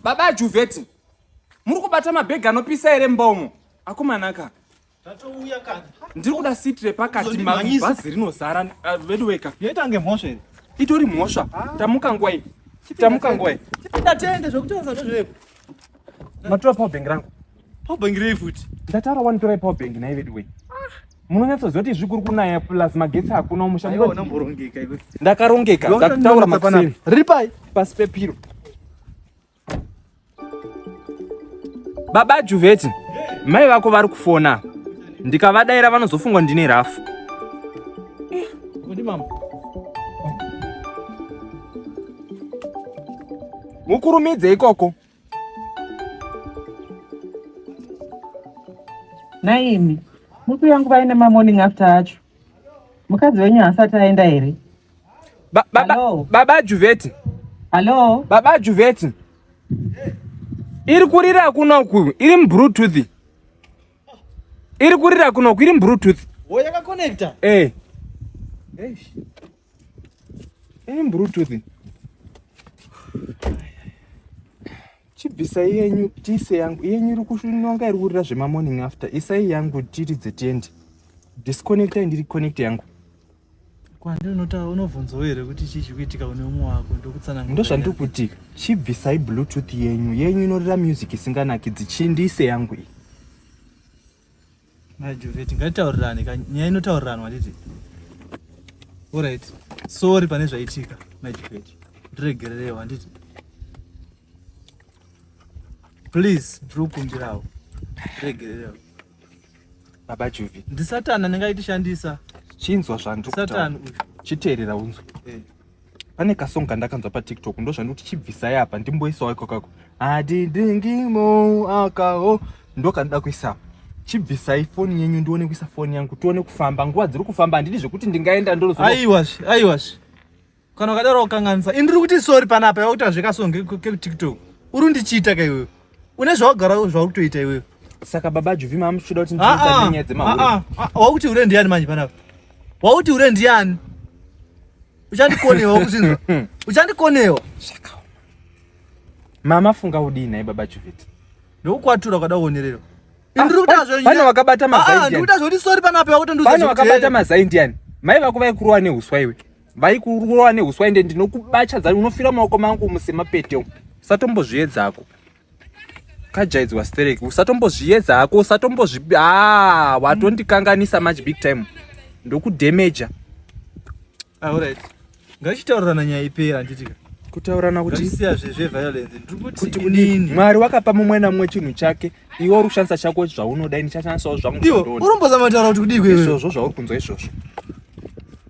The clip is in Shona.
Baba Juveti, muri kubata mabhegi anopisa here mumba umo? Akomanaka. Zvatouya kani. Ndiri kuda seat repakati bhazi rinozara ah, veduweka. Yoita kunge mhosva here? Itori mhosva. Ah. Tamuka ngwai. Tamuka ngwai. Chipinda tende zvekutaura ndezvepo. matora power bank rangu power bank rei futi ndataura wani torai power bank nhai veduwei munonyatsoziva kuti zvikuri kunaya plus magetsi hakuna umusha ndakarongeka ndakutaura makuseni riri pai pasi pepiro baba juveti mai vako vari kufona ndikavadaira vanozofungwa ndine rafu mukurumidze ikoko naimi muku yangu vaine mamorning after acho mukadzi wenyu haasati aenda here ba, ba, ba, baba juveti hallo baba juveti iri kurira kuno uku iri mubluetooth iri kurira kuno uku iri mubluetooth oh, yakakonekta eh. Eh, bluetooth chibvisai yenyu tise yangu yenyu iri kushunonga iri kurira zvemamorning after isai yangu tiridze tiendi disconnectai ndiri connect yangu kwandi unotaura unobvunzawo here kuti chii chikuitika une umwe wako ndokutsanangura ndozvandiri kuti chibvisai bluetooth yenyu yenyu inorira music isinganakidzi chindiise yangu iyi Majuveti, ngatitaurirane ka nyaya inotauriranwa handiti? Alright, sorry pane zvaitika Majuveti, ndiregererewo handiti? Please, ndiri kukumbirawo ndiregererewo. Baba Juvi, ndisatana ndingaitishandisa. Chinzwa zvandiri kutaura. Satan uyu. Chiteerera unzwe. Eh. pane kasong kandakanzwa patiktok ndozvandikuti chibvisai apa ndimboisawo iko kako adidingimo akawo ndokandida kuisa chibvisai foni yenyu ndione kuisa foni yangu tione kufamba nguva dziri kufamba handidi zvekuti ndingaenda ndoroaiwazve aiwazve kana ukadaro ukanganisa ini ndiri kuti sori panapa yakuita zvekasong kekutiktok uri ndichiita ka iwewe une zvaugara zvauri kutoita iwewe saka baba juvi mamuchida kuti ah, ndinyaya ah, dzemawakuti ah, hure ndiyani manje panapa wakuti hure ndiyani uchandikonewa kuzinza uchandikonewa zvakaoma mama funga udii nhai baba chuveti ndokukwatura kwada kuonererwa ah, pane wakabata mazaindianikuita ah, zvekuti sori panapo yakutondipane wakabata mazaindiani mai vako vaikurowa neuswa iwe vaikurowa neuswa ende ndinokubacha dzani unofira maoko mangu musemapete satombozviedzako kajaidzwa sterek usatombozviedza hako usatombozvi haa watondikanganisa much big time ndokudamaja auright ah, ngachitaurirana nyaya ipera handitika kutaurana kutikuti unini mwari wakapa mumwe namumwe chinhu chake iwe uri kushandisa chako zvaunoda ini chashandisawo zvangu urombozamataura kuti kudii izvozvo zvauri kunzwa izvozvo